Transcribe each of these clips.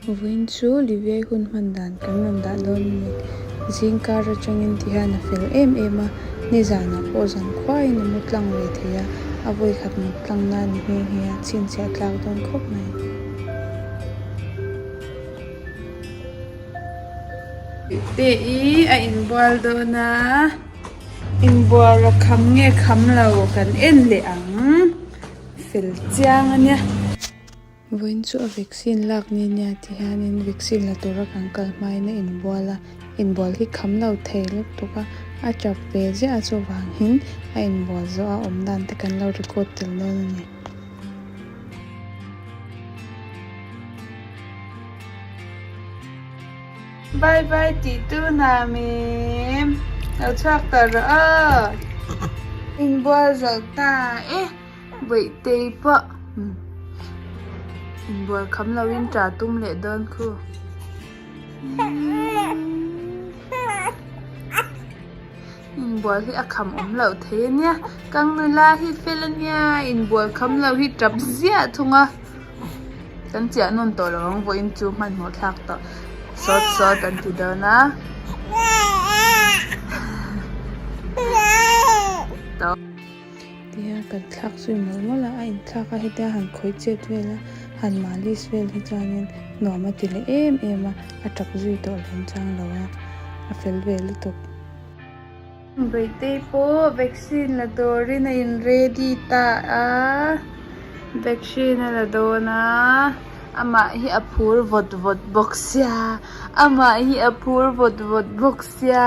Vawiin chu Liviai hun hman dan kan rawn dah dawn a ni. Zingkar atangin ti hian a fel em em a, nizanah pawh zan khuaiin a mu tlang ve thei a, a vawi khat mut tlang na a ni nghe nghe a, chhinchhiah a tlak dawn khawp mai. Te i a inbual dawn a, inbual a kham nge kham lo kan en leh ang, fel chiang a nia. Vawiin chu a vaccine lak ni nia ti hianin vaccine la tura kan kal hmain a inbual a, inbual hi kham lo thei lutuk tuk a, a tap ve ziah chuvangin a inbual zawh a, awm dan te kan lo record tel dawn a ni. Bye bye tih tunam em, lo chhuak tawh rawh aw. Inbual zawh ta e. Veihtei pah in bual kham lo in ṭa tum leh dawn khu. In bual hi a kham awm loh thei a nia. Kang nula hi fel a nia in bual kham lo hi ṭap ziah thung a. Kan chiah nawn tawh lo ang vawiin chu hmanhmawh thlak tawh sawt sawt an ti dawn a. Tawk. Tihian kan thlak zui mual mual a, a inthlak a hetia han khawi chet vel a, han malis vel hi chuanin nuam a ti leh em em a, a ṭap zui tawh hlim chang lo a, a fel ve lutuk. Beitei pawh vaccine la dawrin a in ready ta a, vaccine a la dawn a, amah hi a phur vawt vawt bawk sia, amah hi a phur vawt vawt bawk sia.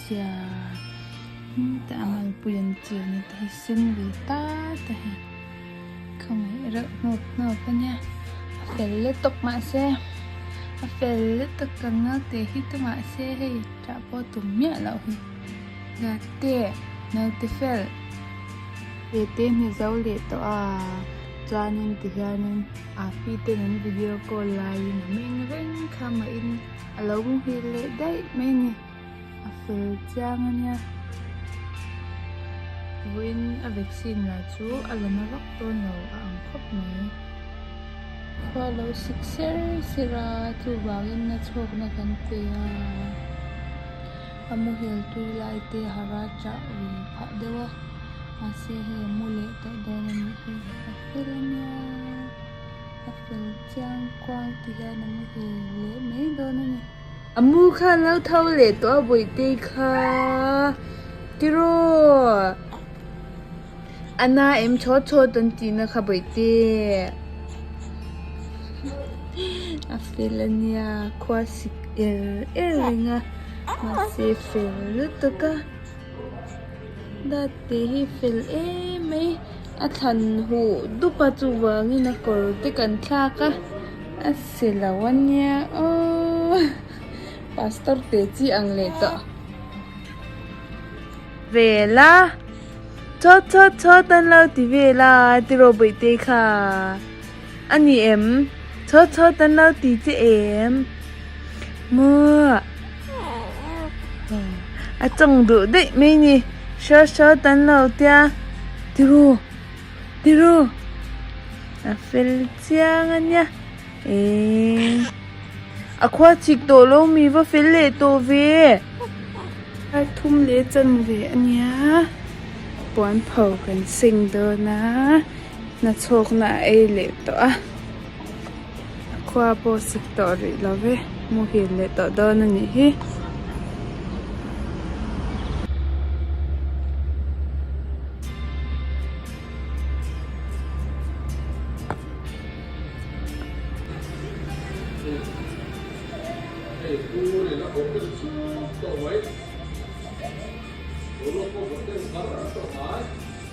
Sia. Heng te a malpui an ti a ni ta hi sen ve ta ta hi kha ngaih reuh hnawp hnawp a nia a fel let tawp mah se a fel let tak tak nau teh hi ta mah se hei tah pawh a tum miah loh hi Zate naute fel ve te ni zo leh tawh a chuanin ti hianin Api ten an video call laiin a meng reng kha mahin a lo muhil leh daih mai a ni. A fel chiang ania. Vawiin a vaccine lah chu a la na vak dawn lo a ang khawp mai. Khuaa lo sik ser ser a, chuvangin na chhawkna kan chei a. A muhil tui lai te hara chah ve phah deuh a, mahse hei a mu leh tawh dawn a nih hi. A fel ania, a fel chiang kuang ti hian a muhil leh mai dawn a ni. Amu kha an lo tho leh tawh a Buaite kha tiraw Ana em chhawt chhawt an ti na kha Buaite a fel a nia khua sik er er ringa mahse fel lutuk a. Dad te hi fel em mai a thlan huh dup a chuvangin a kawr te kan thlak a a silo a nia aww pastor te chi ang leh tawh vel a chawt chawt chawt an lo ti vel a tiraw bawih te kha. A ni em? Chho chho tan lo ti che em? Muah. A chawng duh daih mai ni. Hro hro tan lo tia. Tiraw? Tiraw? A fel chiang a nia. Eng. A khua chhik tawh lo mi va fel leh tawh ve. Ai thum leh chan ve a nia. Puan pho kan seng dawn a. Hnachhawkna a ei leh tawh a, a khua pawh a sik tawh rih lo e, muhil leh tawh dawn a nih hi.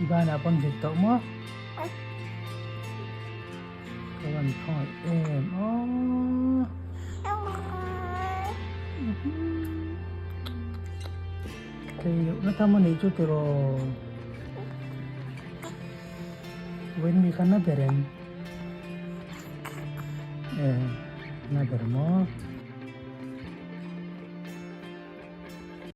I ban ah pawn hlik tawh maw? Ka rawn thawi em aw. Kei loh na tham anih chu tiraw. Wen mi kha na ber em? E, na ber maw?